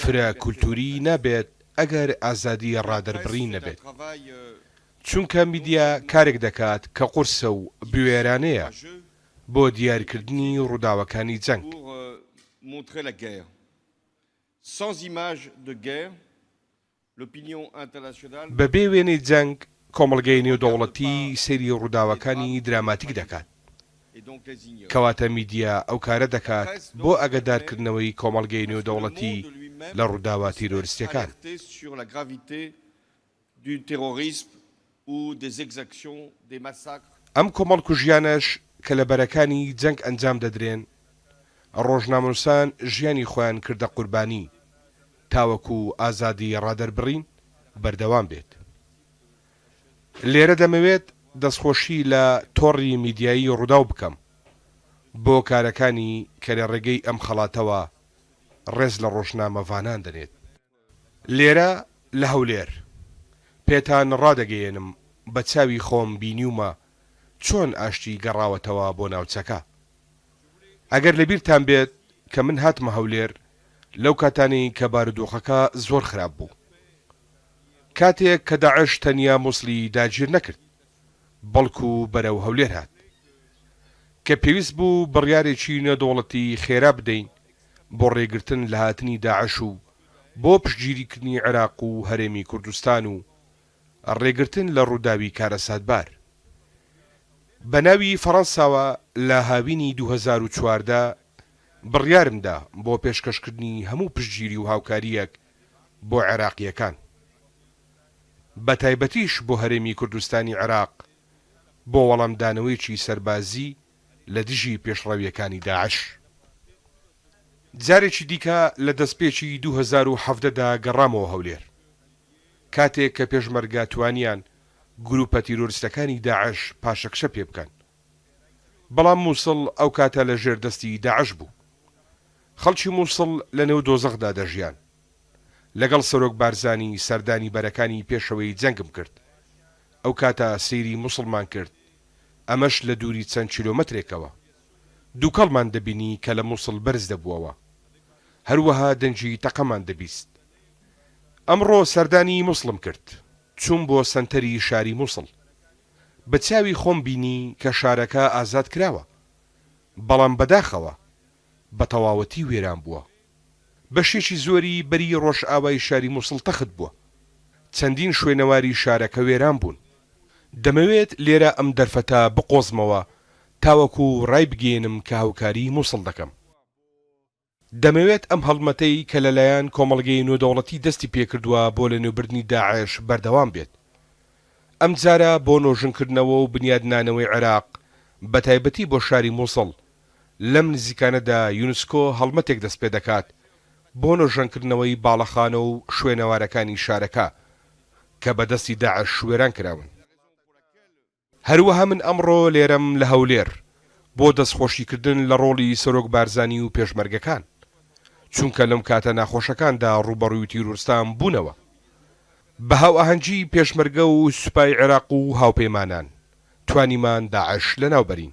فرە کولتووری نابێت ئەگەر ئازادی ڕادەربڕین نەبێت، چونکە میدیا کارێک دەکات کە قورسە و بوێرانەیە بۆ دیارکردنی ڕووداوەکانی جەنگ. بەبێ وێنەی جەنگ، کۆمەڵگەی نێودەوڵەتی سەیری ڕووداوەکانی دراماتیک دەکات. کەواتە میدیا ئەو کارە دەکات بۆ ئاگادارکردنەوەی کۆمەڵگەی نێودەوڵەتی لە ڕووداوە تیرۆرستییەکان. ئەم کۆمەڵکوژییانەش کە لە بەرەکانی جەنگ ئەنجام دەدرێن، ڕۆژنامەنووسان ژیانی خۆیان کردە قوربانی تاوەکو ئازادی ڕادەربڕین بەردەوام بێت. لێرە دەمەوێت دەستخۆشی لە تۆڕی میدیایی ڕووداو بکەم بۆ کارەکانی کە لە ڕێگەی ئەم خەڵاتەوە ڕێز لە ڕۆژنامەڤانان دەنێت. لێرە لە هەولێر پێتان ڕادەگەیەنم بە چاوی خۆم بینیومە چۆن ئاشتی گەڕاوەتەوە بۆ ناوچەکە. ئەگەر لە بیرتان بێت کە من هاتمە هەولێر لەو کاتانەی کە بارودۆخەکە زۆر خراپ بوو. کاتێک کە داعش تەنیا موسڵی داگیر نەکرد بەڵکو بەرەو هەولێر هات. کە پێویست بوو بڕیارێکی نێودەوڵەتی خێرا بدەین بۆ ڕێگرتن لە هاتنی داعش و بۆ پشتگیریکردنی عێراق و هەرێمی کوردستان و ڕێگرتن لە ڕووداوی کارەساتبار بە ناوی فەڕەنساوە لە هاوینی دوو هەزار و چواردە بڕیارم دا بۆ پێشکەشکردنی هەموو پشتگیری و هاوکارییەک بۆ عێراقییەکان. بەتایبەتیش بۆ هەرێمی کوردستانی عێراق بۆ وەڵامدانەوەیەکی سەربازی لە دژی پێشڕەوییەکانی داعش. جارێکی دیکە لە دەستپێکی دوو هەزار و حەڤدە دا گەڕامەوە هەولێر، کاتێک کە پێشمەرگە توانیان گرووپە تیرۆرستەکانی داعش پاشەکشە پێ بکەن، بەڵام مووسڵ ئەو کاتە لە ژێر دەستی داعش بوو. خەڵکی مووسڵ لە نێو دۆزەخدا دەژیان. لەگەڵ سەرۆک بارزانی سەردانی بەرەکانی پێشەوەی جەنگم کرد ئەوکاتە سەیری موسڵمان کرد ئەمەش لە دووری چەند کیلۆمەترێکەوە دووکەڵمان دەبینی کە لە موسڵ بەرز دەبووەوە هەروەها دەنگی تەقەمان دەبیست ئەمڕۆ سەردانی موسڵم کرد چووم بۆ سەنتەری شاری موسڵ بە چاوی خۆم بینی کە شارەکە ئازاد کراوە بەڵام بەداخەوە بەتەواوەتی وێران بووە. بەشێکی زۆری بەری ڕۆژئاوای شاری موسڵ تەخت بووە. چەندین شوێنەواری شارەکە وێران بوون. دەمەوێت لێرە ئەم دەرفەتە بقۆزمەوە تاوەکو ڕایبگەیەنم کە هاوکاریی موسڵ دەکەم. دەمەوێت ئەم هەڵمەتەی کە لەلایەن کۆمەڵگەی نۆدەوڵەتی دەستی پێکردووە بۆ لەنێوبردنی داعش بەردەوام بێت. ئەمجارە بۆ نۆژنکردنەوە و بنیادنانەوەی عێراق، بەتایبەتی بۆ شاری موسڵ، لەم نزیکانەدا یونسکۆ هەڵمەتێک دەستپێدەکات بۆ نۆژەنکردنەوەی باڵەخانە و شوێنەوارەکانی شارەکە کە بە دەستی داعش وێران کراون. هەروەها من ئەمڕۆ لێرەم لە هەولێر بۆ دەستخۆشیکردن لە ڕۆڵی سەرۆک بارزانی و پێشمەرگەکان، چونکە لەم کاتە ناخۆشەکاندا ڕووبەڕووی تیرۆرستان بوونەوە. بە هاوئاهەنگی پێشمەرگە و سوپای عێراق و هاوپەیمانان توانیمان داعش لەناوبەرین.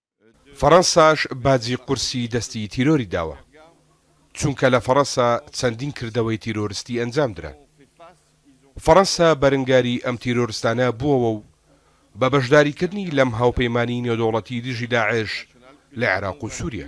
فەرەنساش باجی قورسی دەستی تیرۆری داوە چونکە لە فەرەنسا چەندین کردەوەی تیرۆرستی ئەنجام درا فەرەنسا بەرنگاری ئەم تیرۆرستانە بووەوە و بە بەشداری کردنی لەم هاوپەیمانی نێودەوڵەتی دژی داعش لە عێراق و سوریا.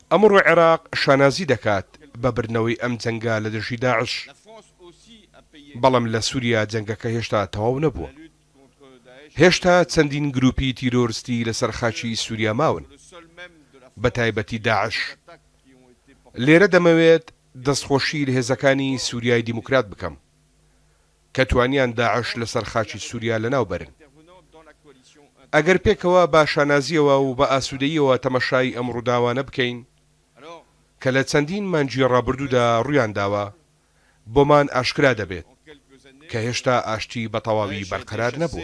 ئەمڕۆ عێراق شانازی دەکات بە بردنەوەی ئەم جەنگە لە دژی داعش، بەڵام لە سوریا جەنگەکە هێشتا تەواو نەبووە. هێشتا چەندین گروپی تیرۆرستی لەسەر خاکی سوریا ماون، بە تایبەتی داعش. لێرە دەمەوێت دەستخۆشی لە هێزەکانی سوریای دیموکرات بکەم. کە توانیان داعش لەسەر خاکی سوریا لەناو بەرن. ئەگەر پێکەوە بە شانازییەوە و بە ئاسوودەییەوە تەمەشای ئەم ڕووداوانە بکەین کە لە چەندین مانگی ڕابردوودا ڕوویان داوە، بۆمان ئاشکرا دەبێت کە هێشتا ئاشتی بە تەواوی بەرقەرار نەبووە.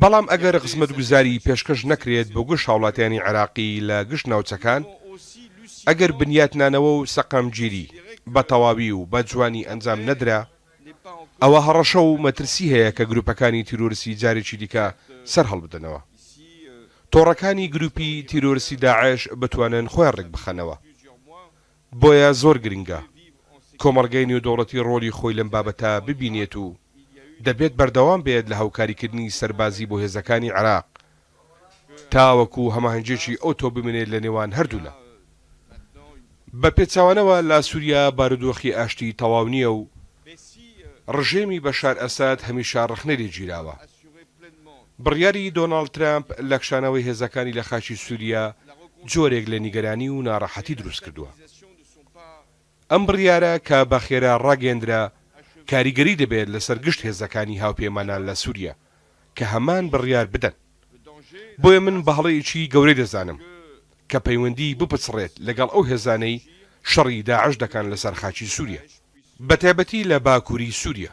بەڵام ئەگەر خزمەتگوزاریی پێشکەش نەکرێت بۆ گشت هاوڵاتیانی عێراقی لە گشت ناوچەکان، ئەگەر بنیاتنانەوە و سەقامگیری بە تەواوی و بە جوانی ئەنجام نەدرا، ئەوا هەڕەشە و مەترسی هەیە کە گروپەکانی تیرۆرستی جارێکی دیکە سەرهەڵبدەنەوە. تۆڕەکانی گروپی تیرۆرستی داعش بتوانن خۆیان ڕێکبخەنەوە. بۆیە زۆر گرنگە کۆمەڵگەی نێودەوڵەتی ڕۆلی خۆی لەم بابەتە ببینێت و دەبێت بەردەوام بێت لە هاوکاریکردنی سەربازی بۆ هێزەکانی عێراق تاوەکو هەماهەنگیەکی ئەوتۆ بمێنێت لە نێوان هەردوولا. بە پێچەوانەوە لە سوریا بارودۆخی ئاشتی تەواو نییە و ڕژێمی بەشار ئەسەد هەمیشە ڕەخنە لێگیراوە. بڕیاری دۆناڵد ترەمپ لە کشانەوەی هێزەکانی لە خاکی سوریا جۆرێک لە نیگەرانی و ناڕەحەتی دروستکردووە. ئەم بڕیارە کە بە خێرا ڕاگەیەندرا کاریگەری دەبێت لەسەر گشت هێزەکانی هاوپەیمانان لە سوریا کە هەمان بڕیار بدەن. بۆیە من بە هەڵەیەکی گەورەی دەزانم کە پەیوەندی بپچڕێت لەگەڵ ئەو هێزانەی شەڕی داعش دەکەن لەسەر خاکی سوریا. بەتایبەتی لە باکوری سوریا.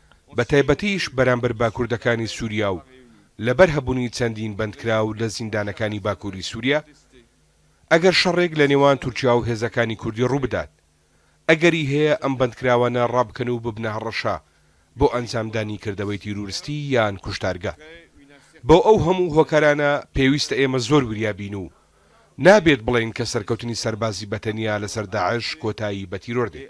بە تایبەتیش بەرامبەر باکوردەکانی سوریا و لەبەر هەبونی چەندین بەندکراو لە زیندانەکانی باکوری سوریا، ئەگەر شەڕێک لە نێوان تورکیا و هێزەکانی کوردی ڕوبدات، ئەگەری هەیە ئەم بەندکراوانە ڕابکەن و ببنە هەڕەشە بۆ ئەنجامدانی کردەوەی تیرورستی یان کوشتارگە. بۆ ئەو هەمو هۆکارانە پێویستە ئێمە زۆر وریا بین و نابێت بڵێین کە سەرکەوتنی سەربازی بە تەنیا لەسەر داعش کۆتایی بە تیرۆر دێت.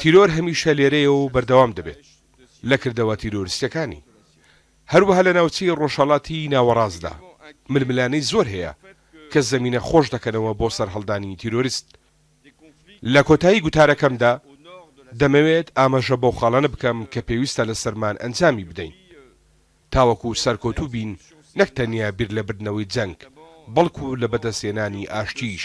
تیرۆر هەمیشە لێرەیە و بەردەوام دەبێت لە کردەوە تیرۆریستیەکانی. هەروەها لە ناوچەی ڕۆژهەڵاتی ناوەڕاستدا ململانێی زۆر هەیە کە زەمینە خۆش دەکەنەوە بۆ سەرهەڵدانی تیرۆریست. لە کۆتایی گوتارەکەمدا دەمەوێت ئاماژە بەو خاڵانە بکەم کە پێویستە لە سەرمان ئەنجامی بدەین تاوەکو سەرکەوتوو بین نەک تەنیا بیر لە بردنەوەی جەنگ بەڵکو لە بەدەستهێنانی ئاشتیش.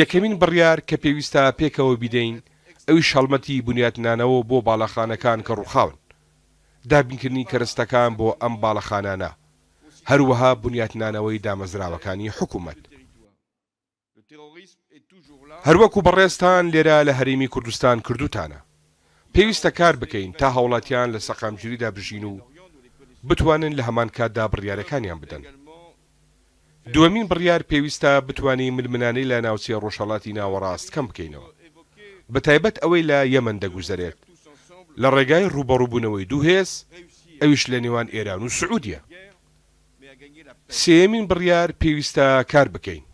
یەکەمین بڕیار کە پێویستە پێکەوە بیدەین ئەویش هەڵمەتی بنیاتنانەوە بۆ باڵەخانەکان کە ڕووخاون، دابینکردنی کەرستەکان بۆ ئەم باڵەخانانە، هەروەها بنیاتنانەوەی دامەزراوەکانی حکوومەت. هەروەکو بەڕێزتان لێرە لە هەرێمی کوردستان کردووتانە، پێویستە کار بکەین تا هاوڵاتیان لە سەقامگیریدا بژین و بتوانن لە هەمان کاتدا بڕیارەکانیان بدەن. دووەمین بڕیار، پێویستە بتوانین ململانێی لە ناوچەی ڕۆژهەڵاتی ناوەڕاست کەم بکەینەوە، بە تایبەت ئەوەی لە یەمەن دەگوزەرێت، لە ڕێگای ڕووبەڕووبوونەوەی دوو هێز، ئەویش لە نێوان ئێران و سعودیە. سێیەمین بڕیار، پێویستە کار بکەین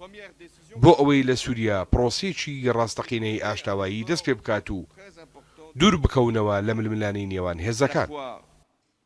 بۆ ئەوەی لە سوریا پڕۆسەیەکی ڕاستەقینەی ئاشتاوایی دەست پێ بکات و دوور بکەونەوە لە ململانێی نێوان هێزەکان.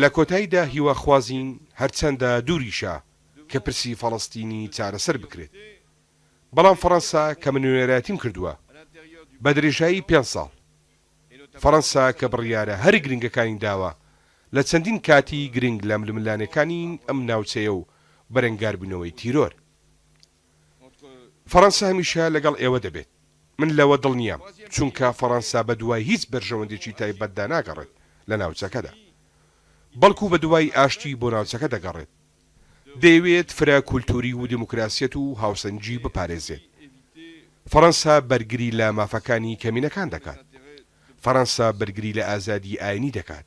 لە کۆتایدا هیواخوازین هەرچەندە دووریشە کە پرسی فەڵەستینی چارەسەر بکرێت، بەڵام فەڕەنسا کە من نوێنەرایەتیم کردووە بە درێژایی پێنج ساڵ، فەڕەنسا کە بڕیارە هەرە گرنگەکانی داوە لە چەندین کاتی گرنگ لە ململانێکانی ئەم ناوچەیە و بەرەنگاربوونەوەی تیرۆر. فەڕەنسا هەمیشە لەگەڵ ئێوە دەبێت. من لەوە دڵنیام، چونکە فەڕەنسا بەدوای هیچ بەرژەوەندێکی تایبەتدا ناگەڕێت لە ناوچەکەدا، بەڵکو بەدوای ئاشتی بۆ ناوچەکە دەگەڕێت. دەیەوێت فرە کولتووری و دیموکراسیەت و هاوسەنگی بپارێزێت. فەڕەنسا بەرگری لە مافەکانی کەمینەکان دەکات. فەڕەنسا بەرگری لە ئازادی ئاینی دەکات.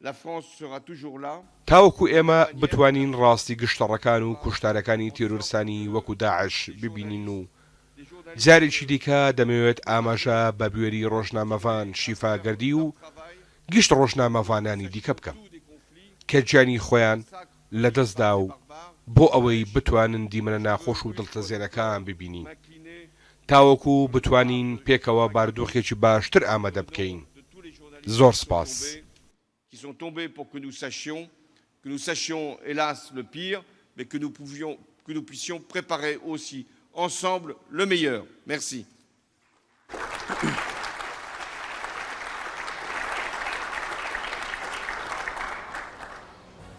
La France sera toujours là. تاوەکو ئێمە بتوانین ڕاستی گشتەڕەکان و کوشتارەکانی تیرۆرستانی وەکو داعش ببینین و جارێکی دیکە دەمەوێت ئاماژە بە بوێری ڕۆژنامەڤان شیفا گەردی و گشت ڕۆژنامەڤانانی دیکە بکەم کە گیانی خۆیان لەدەستدا و بۆ ئەوەی بتوانن دیمەنە ناخۆش و دڵتەزێنەکان ببینین تاوەکو بتوانین پێکەوە باردۆخێکی باشتر ئامادە بکەین زۆر سپاس.